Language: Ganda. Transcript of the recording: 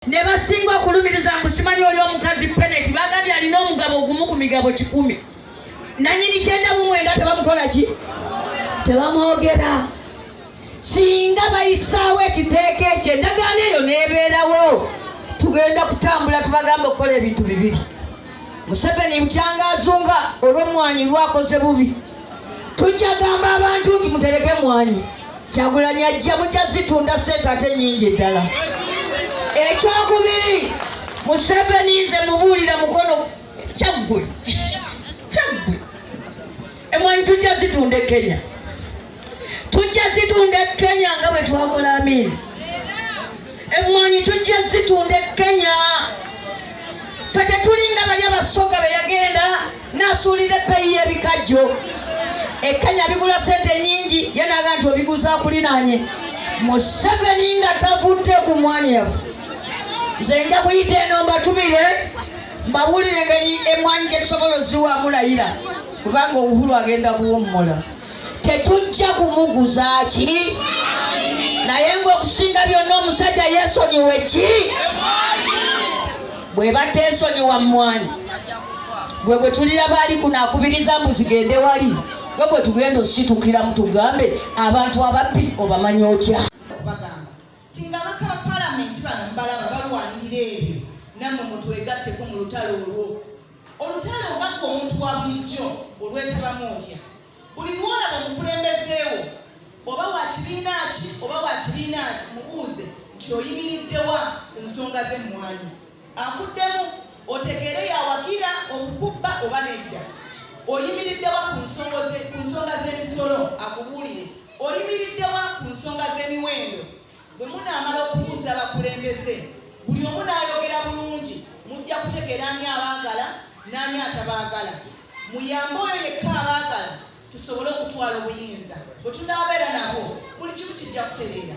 ne basinga okulumiriza mbu simanyi oli omukazi peneti bagambye alina omugabo ogumu ku migabo kikumi nanyini kyenda mu mwenda tebamukola ki tebamwogera singa bayisaawo ekiteeka ekyo endagaano eyo nebeerawo tugenda kutambula tubagamba okukola ebintu bibiri museveni bukyanga azunga olwomwanyi lwakoze bubi tujja gamba abantu nti mutereke mwanyi kyagulanyi ajja mujja zitunda sente ate nyingi ddala ekyokubiri museveni nze mubuulira mukono kyaggwe kyaggwe emwanyi tujja zitunda e kenya tujja zitunda e kenya nga bwe twakola amini emwanyi tujja zitunda e kenya fe tetulinga bali abasoga beyagenda nasuulira ebbeeyi y'ebikajjo ekkanya bigula sente nyingi ye naga nti obiguza kulinaanye museveni nga tavudde ku mwanya yafe nze nja kuyita eno mbatumire mbawulire engeri emwanyi gyetusobola oziwamulayira kubanga obuhulu agenda kuwummula tetujja kumuguza ki naye ngaokusinga byonna omusajja yesonyiwe ki bwe bateesonyiwa mmwanyi gwe gwe tulira baali kuno akubiriza mbu zigende wali gwe gwe tugenda ositukiramu tugambe abantu ababbi obamanyi otya Olutalo oba ggwe omuntu wa bulijjo olwetabamu otya? Buli lw'olaba omukulembeze wo, oba wa kibiina ki oba wa kibiina ki, mubuuze nti oyimiridde wa ku nsonga z'emmwanyi. Akuddemu otegeere y'awagira okukubba oba nedda. Oyimiridde wa ku nsonga z'emisolo? Akubuulire. Oyimiridde wa ku nsonga z'emiwendo? Bwe munaamala okubuuza abakulembeze, buli omu n'ayogera bulungi, mujja kutegeera ani abaagala n'ani atabaagala. Muyambe oyo yekka abaagala tusobole okutwala obuyinza. Bwe tunaabeera nabo, buli kimu kijja kutereera.